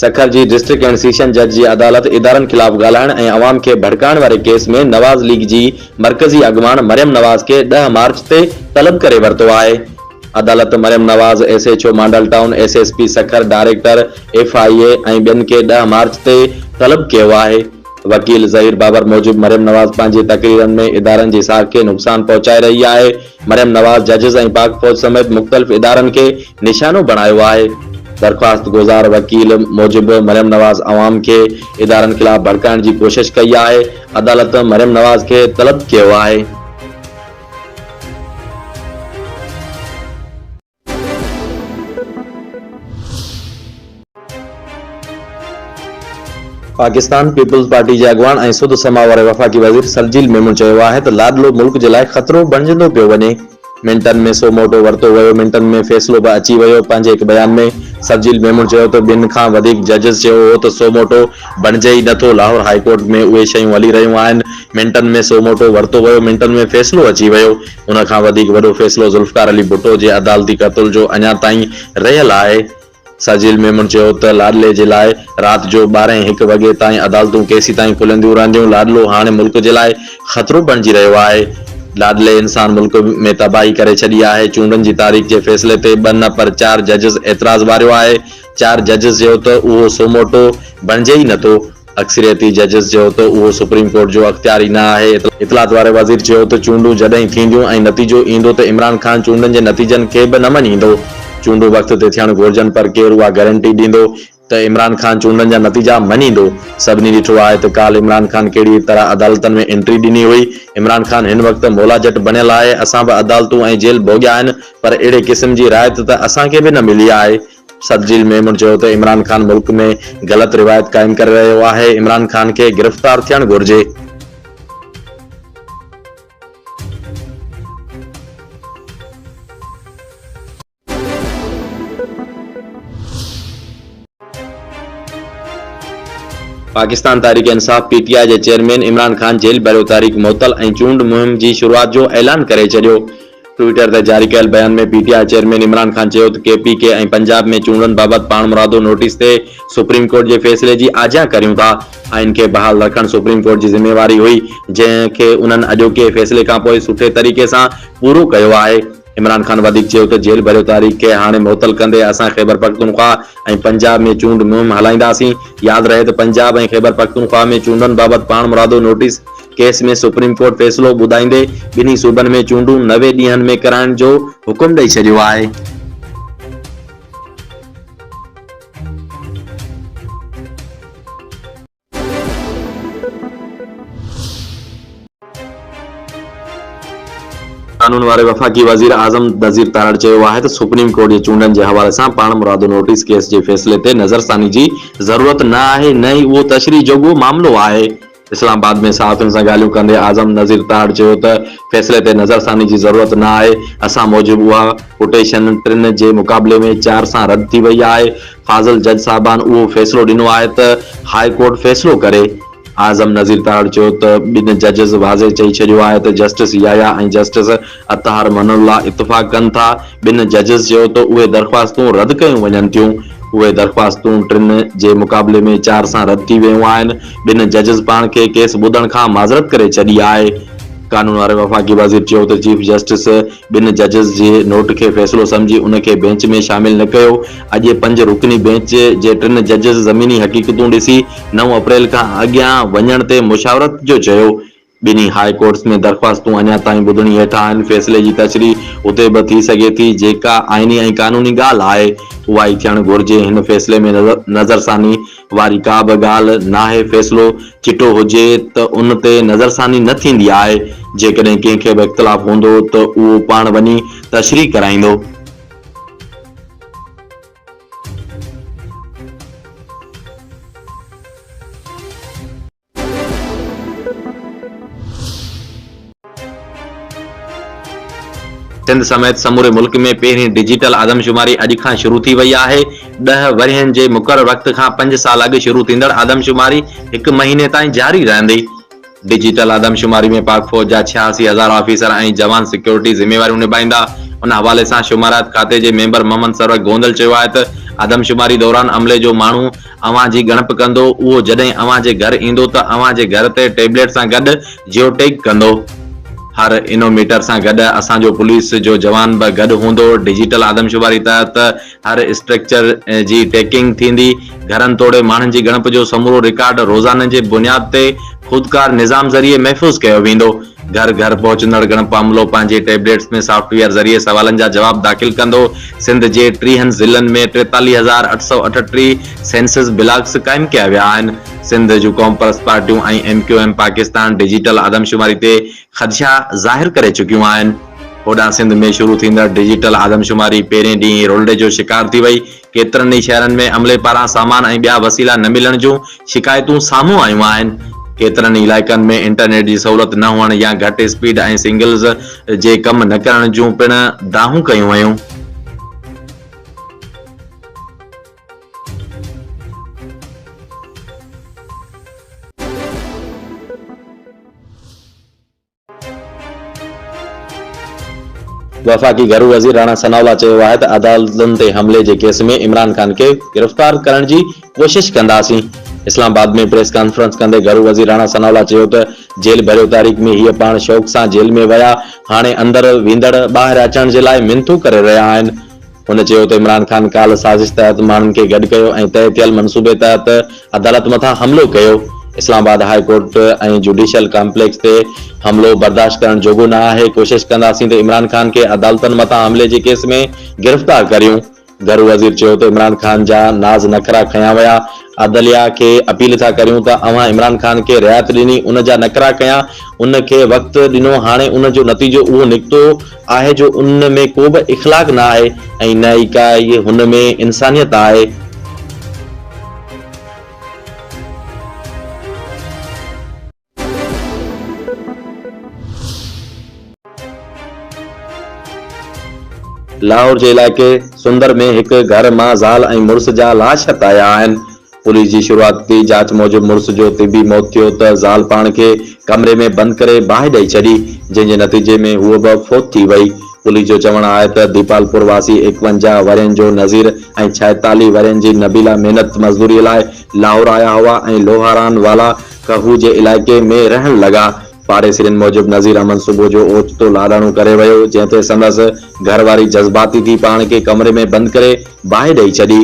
سکر جي district and session جج جي عدالت ادارن خلاف ڳالهائڻ ۽ عوام کي ڀڙڪائڻ واري ڪيس ۾ نواز ليگ جي مرڪزي اڳواڻ مريم نواز کي ڏهه مارچ تي طلب ڪري ورتو آهي. عدالت Maryam Nawaz, S H O model town, S S P Sukkur, director F I A ۽ ٻين کي ڏهه مارچ تي طلب ڪيو آهي. وڪيل ظهير بابر موجب مريم نواز پنهنجي تقريرن ۾ ادارن جي ساک کي نقصان پهچائي رهي آهي، مريم نواز ججز ۽ پاڪ فوج سميت مختلف ادارن کي نشانو بڻايو آهي. درخواست گذار وڪيل موجب مريم نواز عوام کي ادارن خلاف ڀڙڪائڻ جي ڪوشش ڪئي آهي، عدالت مريم نواز کي طلب ڪيو آهي. پاڪستان پيپلز پارٽي جي اڳواڻ ۽ سڌ سماء واري وفاقي وزير شرجيل ميمڻ چيو آهي ته لاڏلو ملڪ جي لاء خطرو بڻجندو پيو وڃي، منٽن ۾ سو موٽو ورتو ويو، منٽن ۾ فيصلو به اچي ويو، پنهنجي هڪ بيان ۾ شرجيل ميمڻ چيو ته ٻن کان وڌيڪ ججز چيو هو ته سو موٽو بڻجي ئي نه ٿو، لاهور هاء ڪورٽ ۾ اهي شيون هلي رهيون آهن، منٽن ۾ سو موٽو ورتو ويو، منٽن ۾ فيصلو اچي ويو، ان کان وڌيڪ وڏو فيصلو ذوالفقار علي ڀٽو جي عدالتي قتل جو اڃا تائين رهيل آهي. ساجيل ميمڻ چيو ته لاڏلي جي لاء رات جو ٻارهين هڪ وڳي تائين عدالتون ڪيسيتائين کلنديون رهنديون، لاڏلو هاڻي ملڪ جي لاء خطرو بڻجي رهيو آهي، لاڏلي انسان ملڪ ۾ تباهي ڪري ڇڏي آهي، چونڊن جي تاريخ جي فيصلي تي ٻه نه پر چار ججز اعتراض واريو آهي، چار ججز چيو ته اهو سوموٽو بڻجي ئي نٿو. اڪثريتي ججز چيو ته اهو سپريم ڪورٽ جو اختيار ئي نه آهي. اطلاعات واري وزير چيو ته چونڊون جڏهن ٿينديون ۽ نتيجو ايندو ته عمران خان چونڊن جي نتيجن کي به نه مڃيندو. چونڊون وقت تي ٿيڻ گهرجن پر ڪير اها گرنٽي ڏيندو ته عمران خان چونڊن جا نتيجا مڃيندو. سڀني ڏٺو آهي ته ڪالهه عمران خان ڪهڙي طرح عدالتن ۾ انٽري ڏني هئي. عمران خان هن وقت مولا جٽ بڻيل آهي. اسان به عدالتون ۽ جيل ڀوڳيا آهن پر اهڙي قسم جي رعايت ته اسان کي به نه ملي آهي. سرجيل ميمڻ چيو ته عمران خان ملڪ ۾ غلط روايت قائم ڪري رهيو آهي، عمران خان کي گرفتار ٿيڻ گهرجي. Pakistan Tehreek Insaf, P T I, جي چيئرمين عمران خان جيل ڀريو تحريڪ معطل ۽ چونڊ مهم جي شروعات جو اعلان ڪري ڇڏيو. ٽوئيٽر تي جاري ڪيل بيان ۾ P T I chairman Imran Khan چيو ته ڪي پي ڪي ۽ پنجاب ۾ چونڊن بابت پاڻمرادو نوٽيس تي سپريم ڪورٽ جي فيصلي جي آجيان ڪريون ٿا، آئين کي بحال رکڻ سپريم ڪورٽ جي ذميواري هئي جنهن کي انهن اڄوڪي فيصلي کانپوء سٺي طريقي سان پورو ڪيو آهي. عمران خان وڌيڪ چيو ته جيل ڀريو تاريخ کي هاڻي معطل ڪندي اسان خيبرپختونخواهه ۽ پنجاب ۾ چونڊ مهم هلائينداسين، ياد رهي ته پنجاب ۽ خيبرپختونخواهه ۾ چونڊن بابت پاڻمرادو نوٽيس ڪيس ۾ سپريم ڪورٽ فيصلو ٻڌائيندي ٻنهي صوبن ۾ چونڊون نوي ڏينهن ۾ ڪرائڻ جو حڪم ڏئي ڇڏيو آهي. قانون واري وفاقي وزير اعظم نذير تارڙ چيو آهي ته سپريم ڪورٽ جي چونڊن جي حوالي سان پاڻمرادو نوٽيس ڪيس جي فيصلي تي نظرثاني جي ضرورت نه آهي نه ئي اهو تشريح جوڳو معاملو آهي. اسلام آباد ۾ صحافين سان ڳالهيون ڪندي اعظم نذير تاڙ چيو ته فيصلي تي نظرثاني جي ضرورت نه آهي، اسان موجب اها پٽيشن ٽن جي مقابلي ۾ چار سان رد ٿي وئي آهي، فاضل جج صاحبان اهو فيصلو ڏنو آهي ته هاء ڪورٽ فيصلو ڪري. اعظم نذير تاڙ چيو ته ٻن ججز واضح چئي ڇڏيو آهي ته justice Yahya ۽ justice Athar Minallah اتفاق ڪن ٿا. ٻن ججز چيو ته اهي درخواستون رد ڪيون وڃن ٿيون. اهي درخواستون ٽن جي مقابلي ۾ چار سان رد ٿي ويون آهن. ٻن ججز پاڻ کي ڪيس ٻڌڻ کان معذرت ڪري ڇڏي آهي. قانون واري وفاقي وزير چيو ته چيف جسٽس ٻن ججز جي نوٽ کي فيصلو سمجهي ان کي بينچ ۾ شامل نه ڪيو. اڄ پنج رڪني بينچ جي ٽن ججز زميني حقيقتون ڏسي نو اپريل کان اڳيان وڃڻ تي مشاورت جو چيو. ٻنهي هاء ڪورٽس ۾ درخواستون اڃا تائين ٻڌڻي هيٺ آهن، فيصلي جي تشريح اتي به ٿي سگهي ٿي، جيڪا آئيني ۽ قانوني ڳالهه آهي اها ئي ٿيڻ گهرجي، هن فيصلي ۾ نظرثاني واري ڪا به ڳالهه ناهي، فيصلو چٽو هجي ته ان تي نظرثاني نه ٿيندي آهي، جيڪڏهن ڪنهن کي به اختلاف هوندو ته اهو پاڻ وڃي تشريح ڪرائيندو. سنڌ سميت سموري ملڪ ۾ پهرين ڊجيٽل آدمشماري اڄ کان شروع ٿي وئي آهي. ڏهه ورهين جي مقرر وقت کان پنج سال اڳ شروع ٿيندڙ آدمشماري هڪ مهيني تائين جاري رهندي. ڊجيٽل آدمشماري ۾ پاڪ فوج جا ڇياسي هزار آفيسر ۽ جوان سيڪيورٽي ذميواريون نڀائيندا. ان حوالي سان شماريات کاتي جي ميمبر محمد سروڪ گوندل چيو آهي ته آدمشماري دوران عملي جو ماڻهو اوهان جي ڳڻپ ڪندو، اهو جڏهن اوهان جي گهر ايندو ته اوهان جي گهر تي ٽيبليٽ سان گڏ جيو ٽيگ ڪندو. هر انوميٽر سان گڏ اسان جو پوليس جو جوان به گڏ هوندو. ڊجيٽل آدمشماري تحت هر اسٽرڪچر جي ٽيڪنگ ٿيندي. گهرن توڙي ماڻهن جي ڳڻپ جو سمورو رڪارڊ روزانن جي بنياد تي خودڪار نظام ذريعي محفوظ ڪيو ويندو. گهر گهر پهچندڙ ڳڻپ عملو پنهنجي ٽيبليٽس ۾ سافٽ ويئر ذريعي سوالن جا جواب داخل ڪندو، سنڌ جي ٽيهن ضلعن ۾ ٽيتاليهه هزار اٺ سؤ اٺٽيهه سينسز بلاڪس قائم ڪيا ويا آهن، سنڌ جون قومپرست پارٽيون ۽ M Q M Pakistan digital آدمشماري تي خدشا ظاهر ڪري چڪيون آهن، هوڏانهن سنڌ ۾ شروع ٿيندڙ ڊجيٽل آدمشماري پهرين ڏينهن ئي رولڙي جو شڪار ٿي وئي، ڪيترن ئي شهرن ۾ عملي پاران سامان ۽ ٻيا وسيلا نه ملڻ جون شڪايتون سامهون آيون آهن. ڪيترن ئي علائقن ۾ انٽرنيٽ جي سهولت نه هئڻ يا گهٽ اسپيڊ ۽ سنگلز جي ڪم نه ڪرڻ جون پڻ دانهون ڪيون ويون. وفاقي گهرو وزير راڻا ثناء الله چيو آهي ته عدالتن تي حملي جي ڪيس ۾ عمران خان کي گرفتار ڪرڻ جي ڪوشش ڪنداسين. اسلام آباد ۾ پريس ڪانفرنس ڪندي گهرو وزير راڻا ثناء الله چيو ته جيل ڀريو تاريخ ۾ هيء پاڻ شوق سان جيل ۾ ويا هاڻي اندر ويندڙ ٻاهر اچڻ جي لاء منٿون ڪري رهيا آهن. هن چيو ته عمران خان ڪالهه سازش تحت ماڻهن کي گڏ ڪيو ۽ طئي ٿيل منصوبي تحت عدالت مٿان حملو ڪيو، Islamabad high court ۽ judicial complex تي حملو برداشت ڪرڻ جوڳو نه آهي، ڪوشش ڪنداسين ته عمران خان کي عدالتن مٿان حملي جي ڪيس ۾ گرفتار ڪريون. گهرو وزير چيو ته عمران خان جا ناز نخرا کنيا ويا، عدليا کي اپيل ٿا ڪريون ته اوهان عمران خان کي رعايت ڏني ان جا نخرا کنيا، ان کي وقت ڏنو هاڻي ان جو نتيجو اهو نڪتو، آهي جو ان ۾ ڪو به اخلاق نه آهي ۽ نه ئي ڪا ئي هن ۾ انسانيت آهي. لاهور جي علائقي سندر ۾ هڪ گهر مان زال ۽ مڙس جا لاش هٿ آيا آهن. پوليس جي شروعاتي جاچ موجب مڙس جو طبي موت ٿيو ته زال پاڻ کي ڪمري ۾ بند ڪري باهه ڏئي ڇڏي، جنهن جي نتيجي ۾ هوء به فوت ٿي وئي. پوليس جو چوڻ آهي ته ديپالپور واسي ايڪونجاهه ورهين جو نذير ۽ ڇائيتاليهه ورهين جي نبيلا محنت مزدوري لاء لاهور آيا هئا ۽ لوهاران والا ڪهو جي علائقي ۾ رهڻ لڳا. پاڙيسرين موجب نذير احمد صبح جو اوچتو لاڏاڻو ڪري ويو، جنهن تي سندس گهر واري جذباتي ٿي پاڻ کي ڪمري ۾ بند ڪري باهه ڏئي ڇڏي.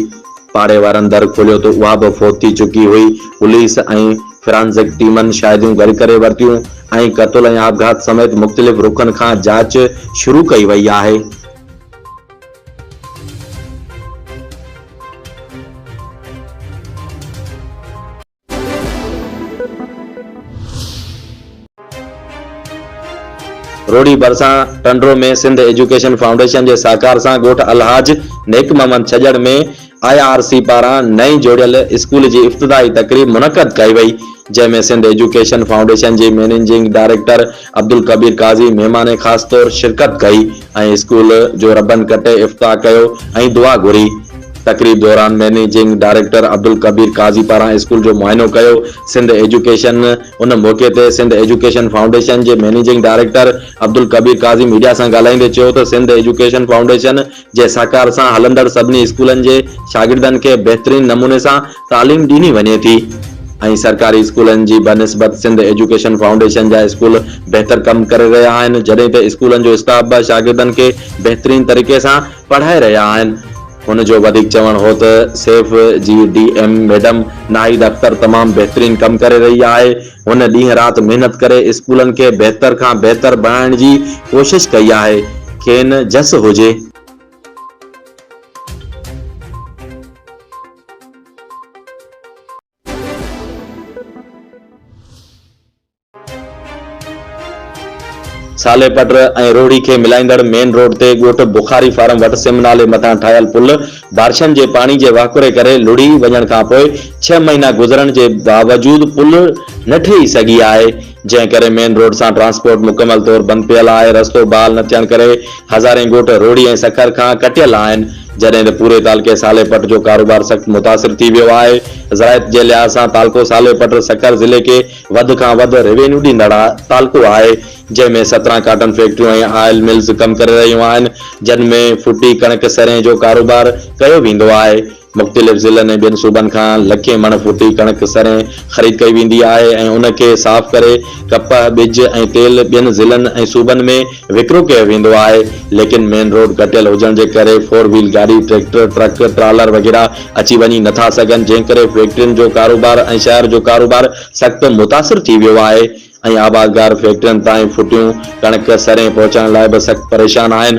پاڙي وارن در کوليو ته اها به فوت ٿي چڪي هئي. پوليس ۽ فرانزڪ ٽيمن شاهديون گڏ ڪري ورتيون ۽ قتل ۽ آپگهات سميت مختلف رخن کان جاچ شروع ڪئي وئي آهي. روھڙي ڀرسان ٽنڊو ۾ سنڌ ايجوڪيشن فائونڊيشن جي سهڪار سان ڳوٺ الحاج Nek Muhammad ڇڄڙ ۾ I R C پاران نئين جوڙيل اسڪول جي افتتاحي تقريب منعقد ڪئي وئي جنهن ۾ سنڌ ايجوڪيشن فائونڊيشن جي مئنيجنگ ڊائريڪٽر عبدالڪبير قاضي مھمان خاص طور شرڪت ڪئي ۽ اسڪول جو ربن ڪٽي افتاح ڪيو ۽ دعا گھري. تقريب دوران مئنيجنگ ڊائريڪٽر عبدالڪبير قاضي پاران اسڪول جو معائنو ڪيو. سنڌ ايجوڪيشن ان موقعي تي سنڌ ايجوڪيشن فائونڊيشن جي managing director Abdul Kabir Qazi media سان ڳالھائيندي چيو ته سنڌ ايجوڪيشن فائونڊيشن جي سهڪار سان هلندڙ سڀني اسڪولن جي شاگردن کي بهترين نموني سان تعليم ڏني وڃي ٿي ۽ سرڪاري اسڪولن جي بنسبت سنڌ ايجوڪيشن فائونڊيشن جا اسڪول بهتر ڪم ڪري رهيا آهن جڏهن ته اسڪولن جو اسٽاف به شاگردن کي بهترين طريقي سان پڙهائي رهيا آهن. هن جو وڌيڪ چوڻ هو ته سيف جي D M madam Nahid Akhtar تمام بهترين ڪم ڪري رهي آهي، هن ڏينهن رات محنت ڪري اسڪولن کي بهتر کان بهتر بڻائڻ جي ڪوشش ڪئي آهي، کين جس هجي. سالي پٽ ۽ روهڙي کي ملائيندڙ مين روڊ تي ڳوٺ بخاري فارم وٽ سم نالي مٿان ٺاهيل پل بارشن جي پاڻي جي واڪوري ڪري لڙهي وڃڻ کانپوء ڇهه مهينا گذرڻ جي باوجود پل نه ٺهي سگهي آهي، جنهن ڪري مين روڊ سان ٽرانسپورٽ مڪمل طور بند پيل آهي، رستو بحال نه ٿيڻ ڪري هزارين ڳوٺ روهڙي ۽ سکر کان ڪٽيل آهن، جڏهن ته پوري تعلقي صالح پٽ جو ڪاروبار سخت متاثر ٿي ويو آهي، زراعت جي لحاظ سان تعلقو صالح پٽ سکر ضلعي کي وڌ کان وڌ روينيو ڏيندڙ تعلقو آهي. جنهن ۾ سترهن ڪاٽن فيڪٽريون ۽ آئل ملز ڪم ڪري رهيون آهن، جن ۾ ڦٽي ڪڻڪ سرين جو ڪاروبار ڪيو ويندو آهي. مختلف ضلعن ۽ ٻين صوبن کان لکين مڻ ڦٽي ڪڻڪ سرين خريد ڪئي ويندي آهي ۽ ان کي صاف ڪري ڪپهه، ٻج ۽ تيل ٻين ضلعن ۽ صوبن ۾ وڪرو ڪيو ويندو آهي. ليڪن مين روڊ گهٽيل هجڻ جي ڪري فور ويل گاڏي، ٽريڪٽر، ٽرڪ، ٽرالر وغيره اچي وڃي نه ٿا سگهن، جنهن ڪري فيڪٽرين جو ڪاروبار ۽ شهر جو ڪاروبار سخت متاثر ٿي ويو آهي. ۽ آبادگار فيڪٽرين تائين ڦٽيون ڪڻڪ، سرين پهچائڻ لاء به سخت پريشان آهن.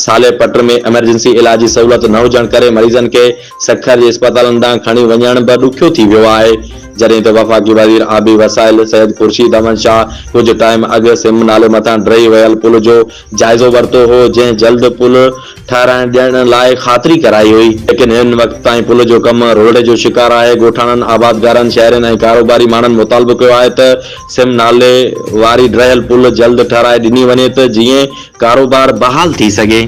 صالح پٽ ۾ ايمرجنسي علاج جي سهولت نه هجڻ ڪري مريضن کي سکر جي اسپتالن ڏانهن کڻي وڃڻ به ڏکيو ٿي ويو آهي. جڏهن ته وفاقي وزير آبي وسائل سيد خورشيد احمد شاهه ڪجهه ٽائيم اڳ سم نالي مٿان ڊهي ويل پل جو جائزو ورتو هو جنهن جلد پل ٺهرائڻ ڏيڻ لاء خاطري ڪرائي هئي ليڪن هن وقت تائين پل جو ڪم روهڙي جو شڪار آهي ڳوٺاڻن آبادگارن شهرين ۽ ڪاروباري ماڻهن مطالبو ڪيو آهي ته سم نالي واري ڊهيل پل جلد ٺهرائي ڏني وڃي ته جيئن ڪاروبار بحال ٿي سگهي.